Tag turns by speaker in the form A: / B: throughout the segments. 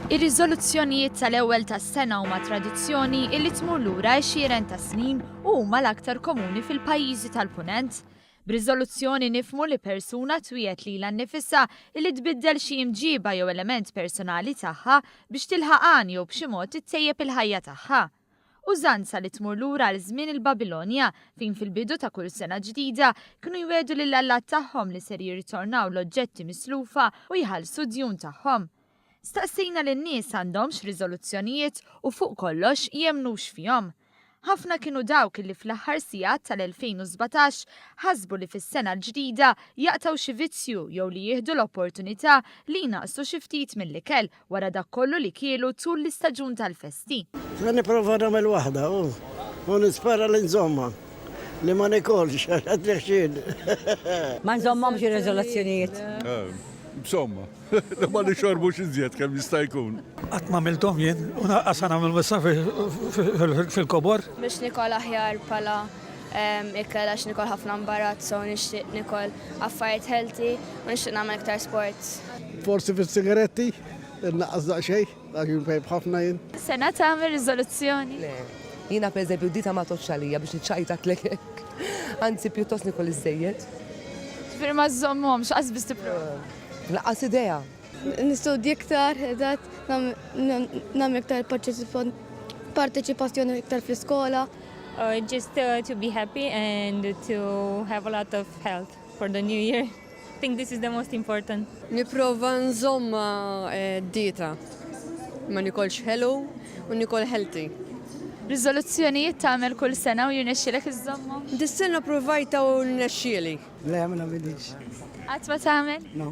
A: Ir-riżoluzzjonijiet tal-ewwel tas-sena huma tradizzjoni illi tmur lura għexieren ta' snin u huma l-aktar komuni fil-pajjiżi tal-Punent. B'riżoluzzjoni nifhmu li persuna twiegħed lilha nnifisha li tbiddel xi imġiba jew element personali tagħha biex tilħaq għan jew b'xi mod ittejjeb il-ħajja tagħha. Użanza li tmur lura għal żmien il-Babilonja, fejn fil-bidu ta' kull sena ġdida kienu jwiegħdu lill-allat tagħhom li ser jirritornaw l-oġġetti mislufa u jħallsu d-djun tagħhom. Staqsina li n-nies għandhomx riżoluzzjonijiet u fuq kollox jemmnux fihom. Ħafna kienu dawk li fl-aħħar sigħat tal-2017 ħasbu li fis-sena l-ġdida jaqtgħu xi vizzju jew li jieħdu l-opportunità li jnaqqsu xi ftit mill-ikel wara dak kollu li kielu tul l-istaġun tal-festi. Se nipprova
B: nagħmel waħda u u nispera li nżommha. Li ma nikolx għax għad nexxiel. Ma
C: nżommhomx ir-riżoluzzjonijiet.
D: Insomma. Ma nixorbux iżjed kemm jista' jkun. Qatt ma għamilthom jien
E: u naqqas se nagħmel missa fil-kobor. Biex nikol
F: aħjar bħala ikel għax nikol ħafna mbarazzo u nixtieq nikol affarijiet healthy u nixtieq nagħmel iktar sports. Forsi
B: fis-sigaretti, innaqqas daqsxejn. Dak jum tajb ħafna jien. Sena tagħmel
A: riżoluzzjoni? Le, jiena
G: pereżempju dita ma tgħodx għalija biex niċċajtatlek hekk. Anzi pjuttost nikol iżżejjed. Ġifieri ma
A: żżommhomx, qas biss tipprova. Lanqas idea.
G: Nistudja
F: iktar, eżatt, nagħmel iktar parteċipazzjoni iktar fl-iskola. Just
H: to be happy and to have a lot of health for the new year. think this is the most important. Niprofa
I: nżomm ma eh, dieta, ma nikolx ħelu u nikol healthy. Rizoluzzjonijiet
A: tagħmel kull sena u jirnexxielek iżommu? Dis-sena provajta
I: u rnexxieli. Le, ma nagħmilx.
B: Qatt ma tagħmel?
A: No.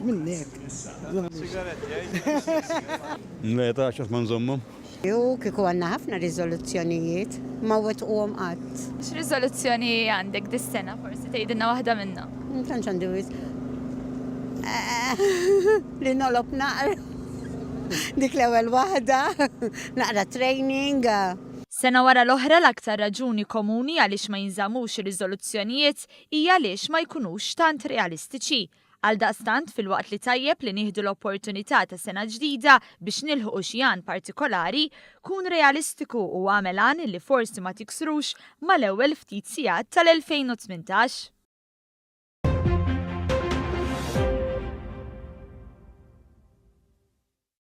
A: Minnek.
B: Sigaretti,
D: eh? Le, ta' xatt ma nżommhom. Hu kieku għandna
J: ħafna riżoluzzjonijiet, ma wettquhom qatt. X'riżoluzzjoni
A: għandek dis-sena forsi tgħidilna waħda minnhom? Ma tantx għandi wisq.
J: Li nolob naqra. Dik l-ewwel waħda. Naqra training. Sena wara
A: l-oħra l-aktar raġuni komuni għaliex ma jinżammux ir-riżoluzzjonijiet hi għaliex ma jkunux tant realistiċi. Għaldaqstant, filwaqt li tajjeb li nieħdu l-opportunità ta' sena ġdida biex nilħqu xi għan partikolari, kun realistiku u agħmel għan li forsi ma tiksrux mal-ewwel ftit sigħat tal-2018.